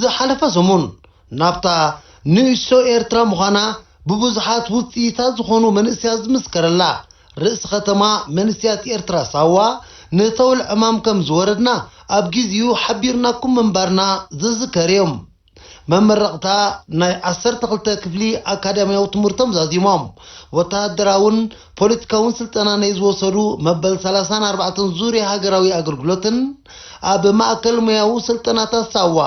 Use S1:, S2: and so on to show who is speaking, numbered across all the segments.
S1: ዝሓለፈ ሰሙን ናብታ ንእሽቶ ኤርትራ ምዃና ብብዙሓት ውጽኢታ ዝኾኑ መንእሰያት ዝምስከረላ ርእሲ ከተማ መንስያት ኤርትራ ሳዋ ንተውል ዕማም ከም ዝወረድና ኣብ ጊዚኡ ሓቢርናኩም ምንባርና ዝዝከርዮም መመረቕታ ናይ ዓሰርተ ክልተ ክፍሊ ኣካዳምያዊ ትምህርቶም ዛዚሞም ወተሃደራውን ፖለቲካውን ስልጠና ነይ ዝወሰዱ መበል ሰላሳን ኣርባዕተን ዙርያ ሃገራዊ ኣገልግሎትን ኣብ ማእከል ሞያዊ ስልጠናታት ሳዋ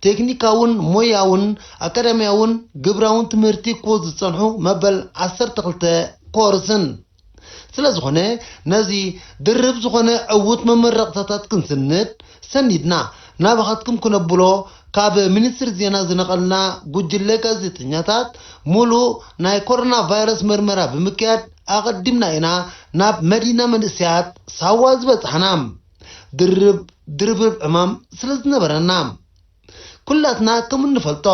S1: ቴክኒካውን ሞያውን ኣካዳሚያውን ግብራውን ትምህርቲ ክወ ዝጸንሑ መበል ዓሰርተ ክልተ ኮርስን ስለ ዝኾነ ነዚ ድርብ ዝኾነ ዕውት መመረቕታታት ክንስንድ ሰኒድና ናባኻትኩም ክነብሎ ካብ ሚኒስትሪ ዜና ዝነቐልና ጉጅለ ጋዜጠኛታት፣ ሙሉእ ናይ ኮሮና ቫይረስ ምርመራ ብምክያድ ኣቐዲምና ኢና ናብ መዲና መንእሰያት ሳዋ ዝበጻሕና። ድርብ ድርብርብ ዕማም ስለዝነበረና። ኩላትና ከምእንፈልጦ፣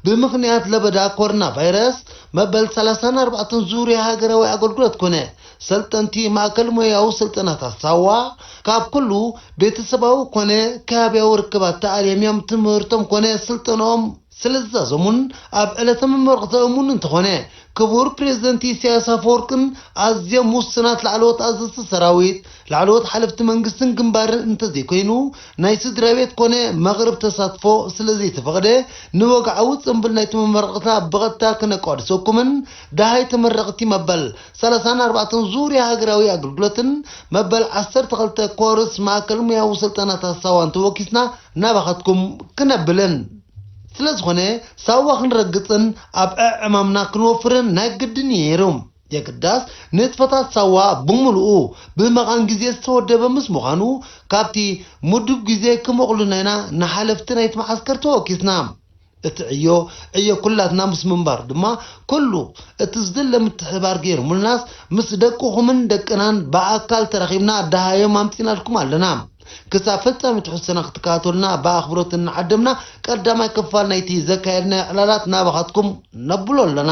S1: ብምኽንያት ለበዳ ኮሮና ቫይረስ መበል ሰላሳን ኣርባዕተን ዙርያ ሃገራዊ ኣገልግሎት ኮነ ሰልጠንቲ ማእከል ሞያዊ ስልጠናታት ሳዋ ካብ ኩሉ ቤተሰባዊ ኮነ ከባቢያዊ ርክባት ተኣልዮም እዮም ትምህርቶም ኮነ ስልጠንኦም ስለዝዛዘሙን ኣብ ዕለተ ምምርቕ ዘእሙን እንተኾነ ክቡር ፕረዚደንት ኢሳያስ ኣፈወርቅን ኣዝዮም ውሱናት ላዕለዎት ኣዘዝቲ ሰራዊት ላዕለዎት ሓለፍቲ መንግስትን ግንባርን እንተዘይኮይኑ ናይ ስድራቤት ኮነ መቕርብ ተሳትፎ ስለዘይተፈቕደ ንወግዓዊ ጽንብል ናይቲ መመረቕታ ብቐጥታ ክነቋድሰኩምን ደሃይ ተመረቕቲ መበል ሰላሳን ኣርባዕተን ዙርያ ሃገራዊ ኣገልግሎትን መበል ዓሰርተ ክልተ ኮርስ ማእከል ሙያዊ ስልጠናታት ሳዋን ተወኪስና ናባኻትኩም ክነብልን ስለ ዝኾነ ሳዋ ክንረግጽን ኣብ ዕዕማምና ክንወፍርን ናይ ግድን እዩ ነይሩ። የግዳስ ንጥፈታት ሳዋ ብምሉኡ ብመቓን ግዜ ዝተወደበ ምስ ምዃኑ ካብቲ ምዱብ ግዜ ክመቕሉና ኢና ንሓለፍቲ ናይቲ መዓስከር ተወኪስና። እቲ ዕዮ ዕዮ ኩላትና ምስ ምንባሩ ድማ ኩሉ እቲ ዝድለ ምትሕብባር ገይርሙልናስ ምስ ደቅኹምን ደቅናን ብኣካል ተራኺብና ደሃዮም ኣምጺእናልኩም ኣለና። ክሳብ ፍጻሜ ትሕዝቶና ክትከታተሉና ብኣኽብሮት እናዓደምና ቀዳማይ ክፋል ናይቲ ዘካየድናዮ ዕላላት ናባኻትኩም ነብሎ ኣለና።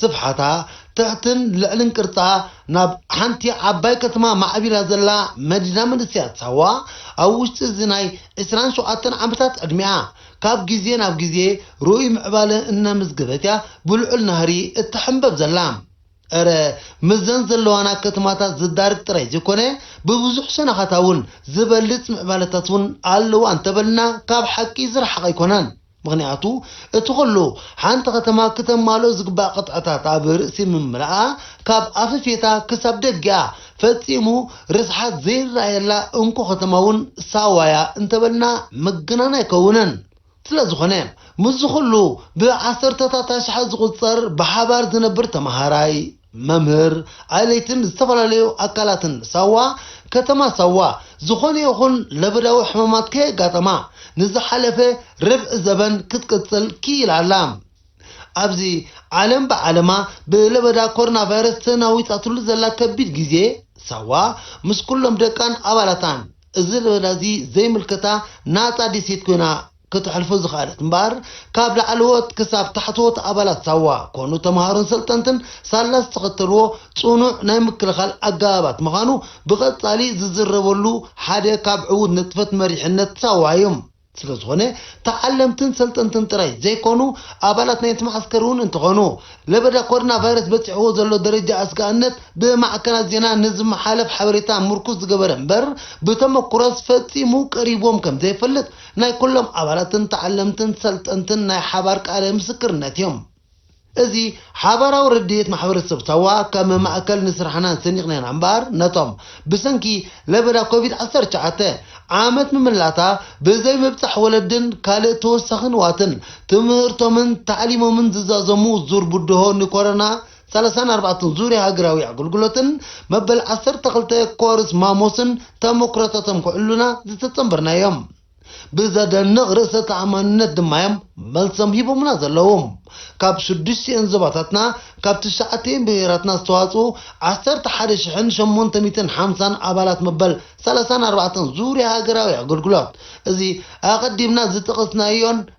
S1: ስፍሓታ፣ ትሕትን ልዕልን ቅርጻ ናብ ሓንቲ ዓባይ ከተማ ማዕቢላ ዘላ መዲና መንእሰያት ሳዋ፣ ኣብ ውሽጢ እዚ ናይ ዕስራን ሸውዓተን ዓመታት ዕድሜኣ፣ ካብ ግዜ ናብ ግዜ ርኡይ ምዕባለ እናመዝገበት እያ ብልዑል ናህሪ እትሕምበብ ዘላ። እረ ምስዘን ዘለዋና ከተማታት ዝዳርግ ጥራይ ዘይኮነ፣ ብብዙሕ ሸነኻታ እውን ዝበልጽ ምዕባለታት እውን ኣለዋ እንተበልና ካብ ሓቂ ዝረሓቐ ኣይኮነን። ምኽንያቱ እቲ ኹሉ ሓንቲ ከተማ ክተማልኦ ዝግባእ ቅጥዕታት ኣብ ርእሲ ምምልኣ ካብ ኣፈፌታ ክሳብ ደጊኣ ፈጺሙ ርስሓት ዘይረኣየላ እንኮ ከተማ ውን ሳዋ'ያ እንተበልና ምግናን ኣይከውንን። ስለዝኾነ ምስዚ ኹሉ ብዓሰርተታት ኣሽሓት ዝቑጸር ብሓባር ዝነብር ተመሃራይ፣ መምህር ኣይለይትን ዝተፈላለዩ ኣካላትን ሳዋ ከተማ ሳዋ ዝኾነ ይኹን ለበዳዊ ሕማማት ከየጋጠማ ንዝሓለፈ ርብዒ ዘበን ክትቅፅል ክኢላ ኣላ። ኣብዚ ዓለም ብዓለማ ብለበዳ ኮሮናቫይረስ ተናዊፃትሉ ዘላ ከቢድ ግዜ ሳዋ ምስ ኩሎም ደቃን ኣባላታን እዚ ለበዳ እዚ ዘይምልከታ ናፃ ዴሴት ኮይና ከተሕልፎ ዝኸኣለት እምበኣር ካብ ላዕለዎት ክሳብ ታሕተዎት ኣባላት ሳዋ ኮኑ ተምሃሮን ሰልጠንትን ሳላ ዝተኸተልዎ ጽኑዕ ናይ ምክልኻል ኣገባባት ምኻኑ ብቐጻሊ ዝዝረበሉ ሓደ ካብ ዕዉት ንጥፈት መሪሕነት ሳዋ እዩ። ስለ ዝኾነ ተዓለምትን ሰልጠንትን ጥራይ ዘይኮኑ ኣባላት ናይቲ መዓስከር እውን እንተኾኑ ለበዳ ኮርና ቫይረስ በጺሕዎ ዘሎ ደረጃ ኣስጋእነት ብማዕከናት ዜና ንዝመሓለፍ ሓበሬታ ምርኩስ ዝገበረ እምበር ብተመኩሮስ ፈጺሙ ቀሪብዎም ከም ዘይፈልጥ ናይ ኩሎም ኣባላትን ተዓለምትን ሰልጠንትን ናይ ሓባር ቃለ ምስክርነት እዮም። እዚ ሓባራዊ ርድኢት ማሕበረሰብ ሳዋ ከም ማእከል ንስራሕና ሰኒቕና ኢና እምበኣር ነቶም ብሰንኪ ለበዳ ኮቪድ ዓሰርተ ትሽዓተ ዓመት ምምላታ ብዘይ ምብጻሕ ወለድን ካልእ ተወሳኺ ንዋትን ትምህርቶምን ታዕሊሞምን ዝዛዘሙ ዙር ብድሆ ንኮሮና ሰላሳን ኣርባዕተን ዙርያ ሃገራዊ ኣገልግሎትን መበል ዓሰርተ ክልተ ኮርስ ማሞስን ተሞክሮታቶም ክዕሉና ዝተጸንበርናዮም። ብዘደንቕ ርእሰ ተኣማንነት ድማዮም መልሶም ሂቦምና ዘለዉ። ካብ ሽዱሽቲኤን ዞባታትና ካብ ትሽዓቲኤን ብሄራትና ዝተዋጽኡ ዓሰርተ ሓደ ሽሕን ሸሞንተ ሚእትን ሓምሳን ኣባላት መበል ሰላሳን ኣርባዕተን ዙርያ ሃገራዊ ኣገልግሎት እዚ ኣቐዲምና ዝጠቐስናዮን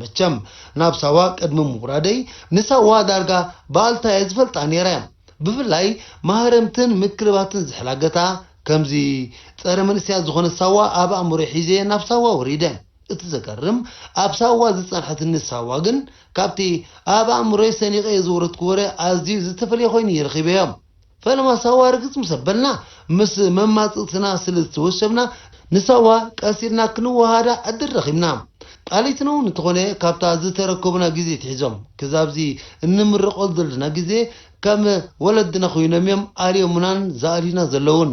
S1: መቸም ናብ ሳዋ ቅድሚ ምውራደይ ንሳዋ ዳርጋ ብኣልታ እየ ዝፈልጣ ነይረ። ብፍላይ ማህረምትን ምክልባትን ዝሕላገታ ከምዚ ጸረ መንእሰያት ዝኾነት ሳዋ ኣብ ኣእምሮይ ሒዘ ናብ ሳዋ ወሪደ። እቲ ዘገርም ኣብ ሳዋ ዝጸንሐትኒ ሳዋ ግን ካብቲ ኣብ ኣእምሮይ ሰኒቐዮ ዝወረድኩ ወረ ኣዝዩ ዝተፈልየ ኮይኑ እየ ረኺበዮ። ፈለማ ሳዋ ርግጽ ምስ ኣበልና፣ ምስ መማጽእትና ስለ ዝተወሸብና፣ ንሳዋ ቀስ ኢልና ክንወሃሃዳ ዕድል ረኺብና። ቃሊቲኖ'ውን እንተኾነ ካብታ ዝተረከቡና ግዜ ኣትሒዞም ክዛብ'ዚ እንምረቐሉ ዘለና ግዜ ከም ወለድና ኮይኖም'ዮም ኣልዮሙናን ዝኣልዩና ዘለዉን።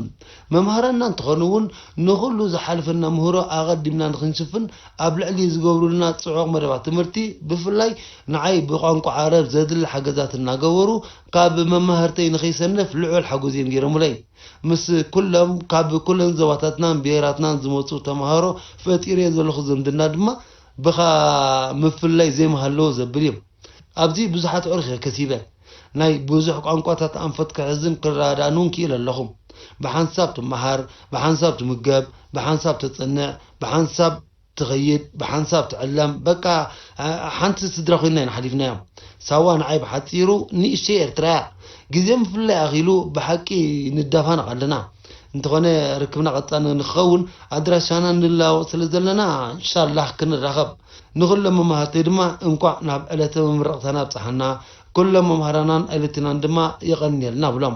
S1: መማህራንና እንተኾኑ'ውን ንኹሉ ዝሓለፈና ምህሮ ኣቐዲምና ንኽንሽፍን ኣብ ልዕሊ ዝገብሩልና ጽዑቕ መደባት ትምህርቲ ብፍላይ ንዓይ ብቋንቋ ዓረብ ዘድሊ ሓገዛት እናገበሩ ካብ መማህርተይ ንኸይሰንፍ ልዑል ሓጎስ እዮም ገይሮሙለይ። ምስ ኩሎም ካብ ኩለን ዞባታትናን ብሄራትናን ዝመጹ ተማሃሮ ፈጢረዮ ዘለኹ ዝምድና ድማ ብኻ ምፍልላይ ዘይምሃለዎ ዘብል እዮም። ኣብዚ ብዙሓት ኣዕሩኽ እየ ከሲበ። ናይ ብዙሕ ቋንቋታት ኣንፈት ክሕዝን ክረዳዳእን እውን ክኢለ ኣለኹ። ብሓንሳብ ትመሃር፣ ብሓንሳብ ትምገብ፣ ብሓንሳብ ተጽንዕ፣ ብሓንሳብ ትኸይድ ብሓንሳብ ትዕለም በቃ ሓንቲ ስድራ ኮይና ኢና ሓሊፍናዮም ሳዋ ንዓይ ብሓጺሩ ንእሽተይ ኤርትራ እያ ግዜ ምፍልላይ ኣኺሉ ብሓቂ ንዳፋነቕ ኣለና እንተኾነ ርክብና ቀጻሊ ንክኸውን ኣድራሻና ንለዋወጥ ስለ ዘለና እንሻላህ ክንራኸብ ንኹሎም መማህርተይ ድማ እንቋዕ ናብ ዕለተ መምረቕታና ኣብጽሓና ኩሎም መማህራናን ኣይለቲናን ድማ የቐንየልና እብሎም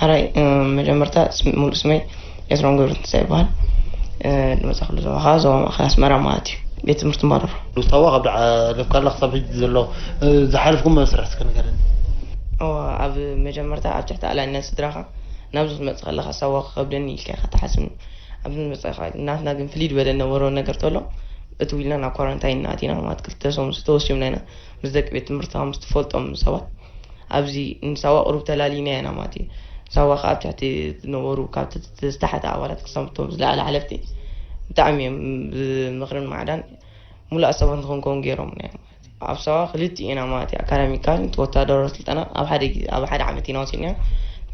S2: ሐራይ መጀመርታ ሙሉእ ስመይ ኤፍረም ገብረትንሳኤ ይበሃል። ድመፃኹሉ ዞባ ከዓ ዞባ ማእኸል ኣስመራ ማለት እዩ። ቤት ትምህርቲ ማረሮ። ምስታወቅ ኣብ ዳዓ
S1: ለፍካላ ክሳብ ሕጂ ዘሎ ዝሓለፍኩም መስርሕ እስከ ንገረኒ። እወ
S2: ኣብ መጀመርታ ኣብ ትሕቲ ኣላይነት ስድራኻ ናብዚ ክትመጽእ ከለኻ ሳዋ ክኸብደኒ ኢልካ ኢኻ ትሓስብ ኣብዚ ንመጻእኻ ናትና ግን ፍልይ ዝበለ ነበሮ ነገር ተሎ እቲ ኢልና ናብ ኳራንታይን ኣቲና ማለት ክልተ ሰሙን ዝተወሲምና ኢና ምስ ደቂ ቤት ትምህርትኻ ምስ ትፈልጦም ሰባት ኣብዚ ንሳዋ ቁሩብ ተላሊና ኢና ማለት እዩ ሳዋ ከዓ ኣብ ትሕቲ ዝነበሩ ካብ ዝተሓተ ኣባላት ክሳብ እቶም ዝለዓለ ሓለፍቲ ብጣዕሚ እዮም ብምኽርን ማዕዳን ሙሉኣት ሰባት ንክንከውን ገይሮምና እዮም ማለት እዩ ኣብ ሳዋ ክልቲኡ ኢና ማለት እዩ ኣካዳሚካል ወታደራዊ ስልጠና ኣብ ሓደ ግዜ ኣብ ሓደ ዓመት ኢና ወሲድና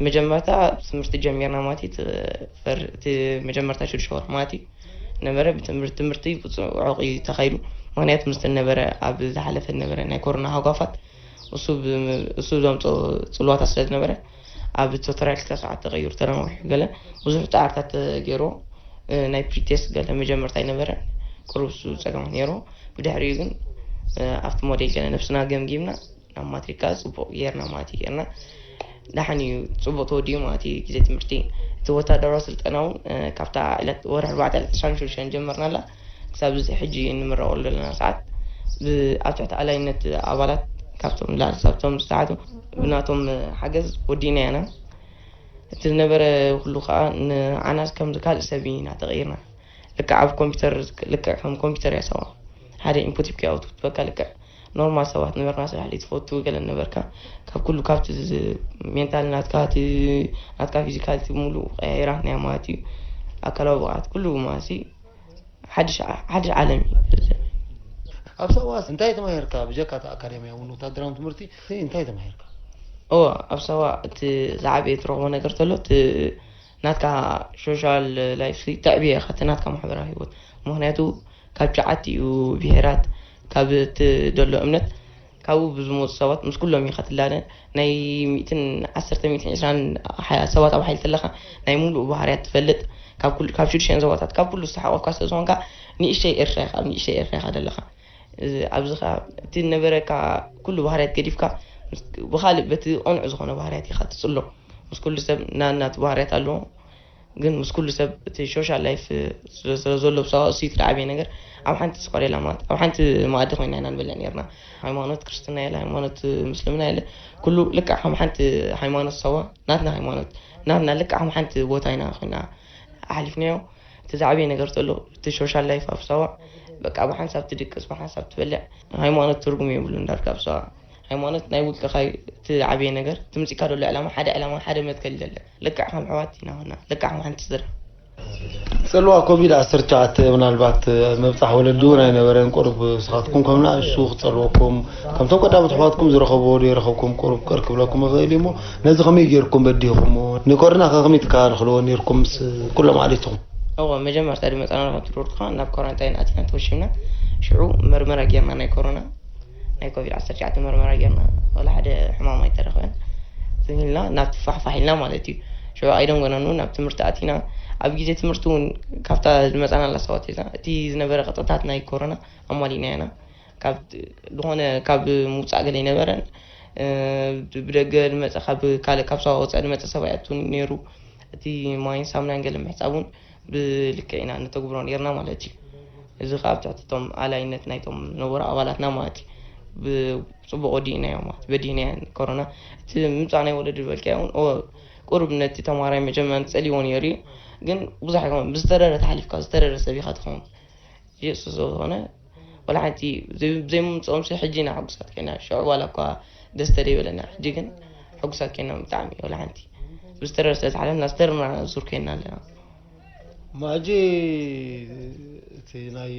S2: መጀመርታ ትምህርቲ ጀሚርና ማለት እዩ እቲ መጀመርታ ሽዱሽተ ወርሒ ማለት እዩ ነበረ ብትምህርቲ ትምህርቲ ብፅዑቕ እዩ ተኻይዱ ምክንያቱ ምስ ነበረ ኣብ ዝሓለፈ ነበረ ናይ ኮሮና ሃጓፋት እሱ እሱ ዘምፀኦ ፅልዋታት ስለ ዝነበረ ኣብ ቶተርያል ክልተ ሰዓት ተቐይሩ ተነዋሒሑ ገለ ብዙሕ ፃዕርታት ተገይሩ ናይ ፕሪቴስ ገለ መጀመርታ ኣይነበረ ቅሩብ እሱ ፀገማት ነይሩ ብድሕሪኡ ግን ኣብቲ ሞዴል ገለ ነብስና ገምጊምና ናብ ማትሪካ ፅቡቕ ጌርና ማለት እዩ ጌርና ደሓን እዩ ፅቡቕ ተወዲኡ ማለት እዩ ግዜ ትምህርቲ እቲ ወታደራዊ ስልጠና እውን ካብታ ዕለት ወርሒ ኣርባዕተ ዕለት ዕስራን ሽዱሽተን ጀመርናላ ክሳብ እዚ ሕጂ እንምረቐሉ ዘለና ሰዓት ብኣብ ትሕቲ ኣላይነት ኣባላት ካብቶም ንላዕሊ ክሳብ እቶም ዝተሓቱ ብናቶም ሓገዝ ወዲእናዮ ኢና። እቲ ዝነበረ ኩሉ ከኣ ንዓና ከምዚ ካልእ ሰብ ኢና ተቐይርና። ልክዕ ኣብ ኮምፒተር ልክዕ ከም ኮምፒተር እያ ሳዋ። ሓደ ኢንፑት ሂብካያ ኣውት ክትበካ ልክዕ ኖርማል ሰባት ነበርና ስራሕ ትፈቱ ገለ ነበርካ ካብ ኩሉ ካብቲ ሜንታል ናትካ እቲ ናትካ ፊዚካልቲ ሙሉእ ቀያይራትናያ ማለት እዩ ኣካላዊ ብቕዓት ኩሉ ማለት እዩ ሓድሽ ዓለም እዩ።
S1: ኣብ ሳዋ እንታይ ተማሂርካ? ብጀካ እቲ ኣካዳሚያውን ወተሃደራውን ትምህርቲ እንታይ ተማሂርካ? እወ፣ ኣብ
S2: ሳዋ እቲ ዝዓበየ ትረኽቦ ነገር ተሎ እቲ ናትካ ሶሻል ላይፍ ተዕብየ ኢኻ፣ እቲ ናትካ ማሕበራዊ ህይወት ምክንያቱ ካብ ሸዓቲኡ ብሄራት ካብ እትደሎ እምነት ካብኡ ብዝመጹ ሰባት ምስ ኩሎም ኢኻ ትላለ ናይ ሚእትን ዓሰርተ ሚእትን ዕስራን ሰባት ኣብ ሓይሊ ተለኻ ናይ ሙሉኡ ባህርያት ትፈልጥ ካብ ኩሉ ካብ ሽዱሽተን ዞባታት ካብ ኩሉ ዝተሓቆፍካ ስለ ዝኾንካ ንእሽተይ ኤርትራ ኢኻ ኣብ ንእሽተይ ኤርትራ ኢኻ ዘለኻ ኣብዚ ከኣ እቲ ዝነበረካ ኩሉ ባህርያት ገዲፍካ ብኻልእ በቲ ቅኑዕ ዝኾነ ባህርያት ኢኻ ትጽሎ ምስ ኩሉ ሰብ ናናቱ ባህርያት ኣለዎ ግን ምስ ኩሉ ሰብ እቲ ሾሻል ላይፍ ስለ ዘሎ ብሳዋ እሱ እቲ ዓብይ ነገር ኣብ ሓንቲ ስኳሬላ ማለት ኣብ ሓንቲ መኣዲ ኮይና ኢና ንበልዕ ነርና ሃይማኖት ክርስትና የለ ሃይማኖት ምስልምና የለ ኩሉ ልክዕ ከም ሓንቲ ሃይማኖት ሳዋ ናትና ሃይማኖት ናትና ልክዕ ከም ሓንቲ ቦታ ኢና ኮይና ኣሕሊፍናዮ እቲ ዝዓበየ ነገር ተሎ እቲ ሾሻል ላይፍ ኣብ ሳዋ በቃ ብሓንሳብ ትድቅስ ብሓንሳብ ትበልዕ ሃይማኖት ትርጉም የብሉን ዳርጋ ኣብ ሳዋ ሃይማኖት ናይ ውልቅኻ ዩ እቲ ዝዓበየ ነገር እቲ መጺእካዶ ዘሎ ዕላማ ሓደ ዕላማ ሓደ መትከል ዘለን ልክዕ ከም ኣሕዋት ኢና ኮና ልክዕ ከም ሓንቲ ስድራ። ጽልዋ
S1: ኮቪድ ዓሰርተ ትሽዓተ ምናልባት ኣብ ምብጻሕ ወለዲ እውን ኣይነበረን ቁሩብ ንስኻትኩም ከም ንኣሽቱ ክጸልወኩም ከምቶም ቀዳሞት ኣሕዋትኩም ዝረኸብዎ ዶ ይረኸብኩም ቁሩብ ቅር ክብለኩም ይኽእል እዩ እሞ ነዚ ከመይ ጌርኩም በዲህኹምዎ ንኮርና ከ ከመይ ትከላልኽልዎ ኔርኩም ምስ ኩሎም ዓሌትኹም እወ መጀመርታ
S2: ድመጻና ናብ ትሩርካ ናብ ኮራንታይን ኣቲና ተወሺብና ሽዑ መርመራ ጌርና ናይ ኮሮና። ናይ ኮቪድ ዓሰርተ ትሽዓተ መርመራ ጌርና ዋላ ሓደ ሕማም ኣይተረኽበን ዝም ኢልና ናብቲ ፋሕፋሕ ኢልና ማለት እዩ ሽዑ ኣይደንጎናን እውን ናብ ትምህርቲ ኣቲና ኣብ ግዜ ትምህርቲ እውን ካብታ ዝመፃናላ ሰባት ሒዝና እቲ ዝነበረ ቅጥታት ናይ ኮሮና ኣማሊእና ኢና ካብ ዝኾነ ካብ ምውፃእ ገለ ኣይነበረን እ፣ ብደገ ዝመፀ ካብ ካልእ ካብ ሰባ ወፃኢ ዝመፀ ሰብ ኣይኣቱን ነይሩ እቲ ማይን ሳሙናን ገለ ምሕፃብ እውን ብልክዕ ኢና እነተግብሮ ኔርና ማለት እዩ። እዚ ከዓ ኣብ ትሕቲ እቶም ኣላይነት ናይቶም ነበሩ ኣባላትና ማለት እዩ ብፅቡቅ ወዲእናዮ ማለት በዲህናዮ ኮሮና እቲ ምምፃእ ናይ ወለዲ ዝበልካዮ እውን ኦ፣ ቁሩብ ነቲ ተማሃራይ መጀመርያ ፀሊዎ ነይሩ እዩ ግን ብዙሕ ኣይኮነን ብዝተረረ ተሓሊፍካ ዝተረረ ሰብ ኢኻ ትኸውን ኢየሱስ ስለዝኾነ ዋላ ሓንቲ ዘይምምፅኦምሲ ሕጂ ኢና ሕጉሳት ኮይና ሽዑ ዋላ እኳ ደስ ተደይበለና ሕጂ ግን ሕጉሳት ኮይና ብጣዕሚ ዋላ ሓንቲ ብዝተረር ስለ ዝሓለፍና ዝተርምራና ዙር ኮይና ኣለና
S1: ማጂ እቲ ናይ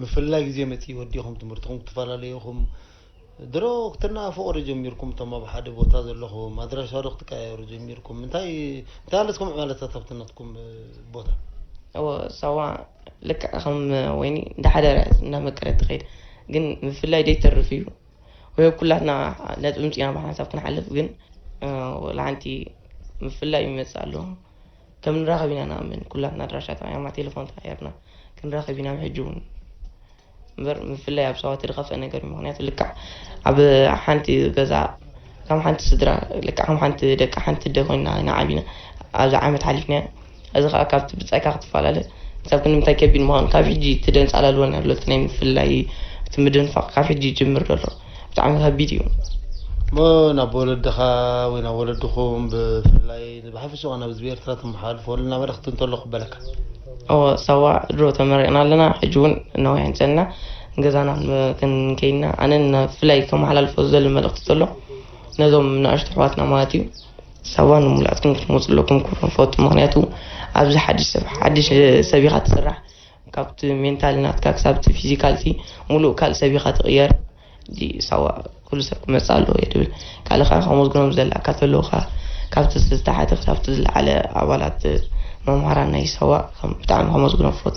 S1: ምፍላይ ግዜ መፅኢ ወዲኹም ትምህርትኹም ክትፈላለዩ ኢኹም ድሮ ክትናፍቑ'ዶ ጀሚርኩም እቶም ኣብ ሓደ ቦታ ዘለኹም? ኣድራሻ'ዶ ክትቀያየሩ ጀሚርኩም? እንታይ እንታይ ኣለስኩም ዕማለታት ኣብቲ ናትኩም ቦታ? እወ
S2: ሳዋ ልክዕ ከም ወይኒ እንዳሓደረ እንዳመቀረት ትኸይድ ግን ምፍላይ ደይተርፍ እዩ ወዮ ኩላትና ነጥቢ ምፂና ብሓንሳብ ክንሓልፍ ግን ወላ ሓንቲ ምፍላይ ይመፅእ ኣሎ ከም ንራኸብ ኢና ንኣምን ኩላትና ኣድራሻ ተቐያማ ቴሌፎን ተቐያርና ክንራኸብ ኢና ብሕጂ እውን እምበር ምፍላይ ኣብ ሰባት ዝኸፍአ ነገር እዩ ምክንያቱ ልክዕ ኣብ ሓንቲ ገዛ ከም ሓንቲ ስድራ ልክዕ ከም ሓንቲ ደቂ ሓንቲ ደ ኮይና ኢና ዓቢና ኣብዚ ዓመት ሓሊፍናዮ እዚ ከዓ ካብቲ ብፃይካ ክትፈላለ ክሳብ ክንምንታይ ከቢድ ምዃኑ ካብ ሕጂ እቲ ደንፃላልወና ኣሎ እቲ ናይ ምፍላይ እቲ ምድንፋቕ ካብ ሕጂ ይጅምር ዘሎ ብጣዕሚ ከቢድ እዩ። እሞ
S1: ናብ ወለድኻ ወይ ናብ ወለድኹም ብፍላይ ብሓፈሻ ውን ኣብዚ ብኤርትራ ተመሓላልፎ ልና መልእኽቲ እንተሎ ክበለካ። እወ
S2: ሳዋ ድሮ ተመሪቕና ኣለና ሕጂ ውን ነዊሕ እንጸና ንገዛና ክንከይድ ኢና ኣነ ንፍላይ ከመሓላልፎ ዝደሊ መልእኽቲ ተሎ ነዞም ንኣሽቱ ኣሕዋትና ማለት እዩ ሳዋ ንሙሉኣትኩም ክትመጹ ኣለኩም ክብሎም ፈቱ ምኽንያቱ ኣብዚ ሓድሽ ሰብ ሓድሽ ሰብ ኢኻ ትስራሕ ካብቲ ሜንታሊ ናትካ ክሳብ እቲ ፊዚካልቲ ሙሉእ ካልእ ሰብ ኢኻ ትቕየር። እዚ ሳዋ ኩሉ ሰብ ክመጽእ ኣለዎ እየ ድብል። ካልእ ከኣ ከመስግኖም ዝደልኣካ ተለዉ ከኣ ካብቲ ዝተሓተ ክሳብቲ ዝለዓለ ኣባላት መምሃራን ናይ ሳዋ ከም ብጣዕሚ ከመስግኖም እፈቱ።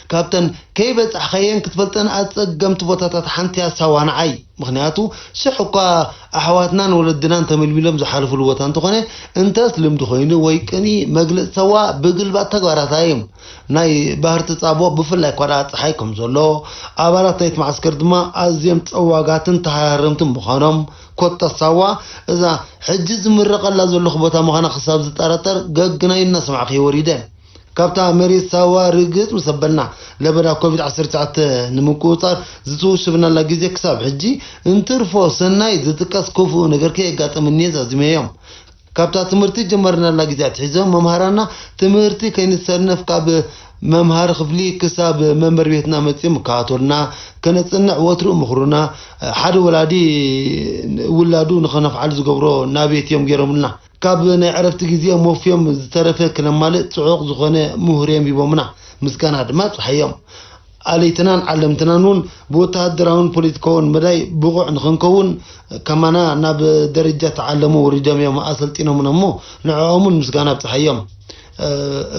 S1: ካብተን ከይበጻሕኻየን ክትፈልጠን ኣጸገምቲ ቦታታት ሓንቲ'ያ ሳዋ ንዓይ። ምኽንያቱ ሽሕ እኳ ኣሕዋትናን ወለድናን ተመልሚሎም ዝሓለፍሉ ቦታ እንተኾነ እንተስ ልምዲ ኮይኑ ወይ ቅንኢ መግለጺ ሳዋ ብግልባጥ ተግባራታ'ዮም። ናይ ባህር ተጻብኦ ብፍላይ እኳ ደኣ ጸሓይ ከም ዘሎ ኣባላት ናይቲ መዓስከር ድማ ኣዝዮም ጸዋጋትን ተሃራረምትን ምዃኖም ኮታ ሳዋ እዛ ሕጂ ዝምረቐላ ዘለኹ ቦታ ምዃና ክሳብ ዝጠራጠር ገግናይ እናሰማዕኩ'የ ወሪደ። ካብታ መሬት ሳዋ ርግጽ ምስ ኣበልና፣ ለበዳ ኮቪድ ዓሰርተ ትሽዓተ ንምቁጽጻር ዝተወሸብናላ ግዜ ክሳብ ሕጂ፣ እንትርፎ ሰናይ ዝጥቀስ ክፉእ ነገር ከየጋጠመ እኒሀ ዛዚመዮም። ካብታ ትምህርቲ ዝጀመርናላ ግዜ ኣትሒዞም መምሃራንና ትምህርቲ ከይንሰነፍ ካብ መምሃሪ ክፍሊ ክሳብ መንበሪ ቤትና መጺኦም ይከታተሉና፣ ከነጽንዕ ወትሩ ይምኽሩና፣ ሓደ ወላዲ ውላዱ ንኸነፍዓሉ ዝገብሮ ናብየት እዮም ገይሮምልና። ካብ ናይ ዕረፍቲ ግዜ ሞፍዮም ዝተረፈ ክነማልእ ጽዑቕ ዝኾነ ምሁርዮም ሂቦምና ምስጋና ድማ ኣብጽሓዮም። ኣለይትናን ዓለምትናን ውን ብወተሃደራውን ፖለቲካውን መዳይ ብቑዕ ንኽንከውን ከማና ናብ ደረጃ ተዓለሙ ኣውሪዶምዮም ኣሰልጢኖምና እሞ ንዕኦም ውን ምስጋና ኣብጽሓዮም።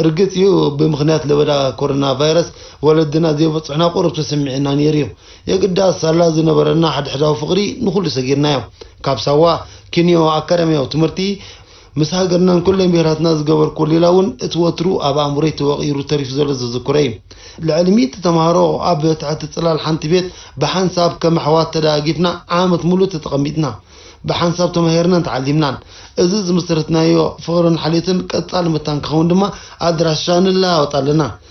S1: ርግጽ እዩ ብምኽንያት ለበዳ ኮሮና ቫይረስ ወለድና ዘይበጽሑና ቁሩብ ተሰሚዑና ነይሩዩ። የግዳስ ሳላ ዝነበረና ሓድሕዳዊ ፍቕሪ ንኹሉ ሰጊርናዮ። ካብ ሳዋ ኪንዮ ኣካዳምያዊ ትምህርቲ ምስ ሃገርናን ኩለን ብሄራትና ዝገበርኩዎ ሌላ እውን እቲ ወትሩ ኣብ ኣእምሮይ ተወቒሩ ተሪፉ ዘሎ ዘዝክሮ እዩ። ልዕሊ ሚእቲ ተምሃሮ ኣብ ትሕቲ ጽላል ሓንቲ ቤት ብሓንሳብ ከም ኣሕዋት ተደጋጊፍና ዓመት ምሉእ ተተቐሚጥና። ብሓንሳብ ተማሂርናን ተዓሊምናን። እዚ ዝመስረትናዮ ፍቕርን ሓልዮትን ቀጻሊ መታን ክኸውን ድማ ኣድራሻ ንለዋወጥ ኣለና።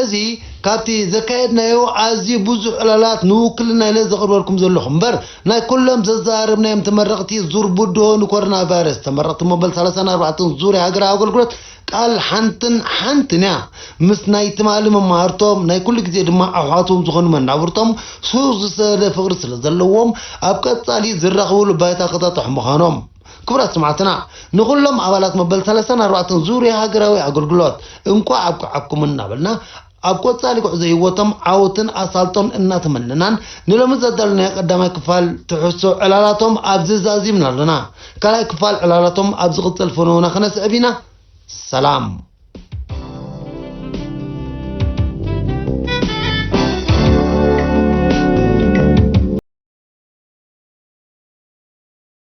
S1: እዚ ካብቲ ዘካየድናዮ ኣዝዩ ብዙሕ ዕላላት ንውክልና ኢለ ዘቕርበልኩም ዘለኹ እምበር ናይ ኩሎም ዘዘራረብናዮም ተመረቕቲ ዙር ብድሆ ንኮሮናቫይረስ ተመረቕቲ መበል ሰላሳን ኣርባዕተን ዙርያ ሃገራዊ ኣገልግሎት ቃል ሓንትን ሓንትን እያ ምስ ናይ ትማሊ መማህርቶም ናይ ኩሉ ግዜ ድማ ኣሕዋቶም ዝኾኑ መናብርቶም ስሩዕ ዝሰደደ ፍቕሪ ስለዘለዎም ኣብ ቀጻሊ ዝራኽብሉ ባይታ ክጣጥሑ ምዃኖም ክቡራት ሰማዕትና ንኹሎም ኣባላት መበል ሰለሳን ኣርባዕተን ዙርያ ሃገራዊ ኣገልግሎት እንቋዕ ኣብቅዓኩም እናበልና ኣብ ቆጻሊ ጉዕዞ ህይወቶም ዓወትን ኣሳልጦን እናተመነናን ንሎሚ ዘዳለናዮ ቀዳማይ ክፋል ትሕሶ ዕላላቶም ኣብዚ ዛዚምና ኣሎና። ካልኣይ ክፋል ዕላላቶም ኣብ ዝቕጽል ፍንውና ክነስዕብ ኢና። ሰላም።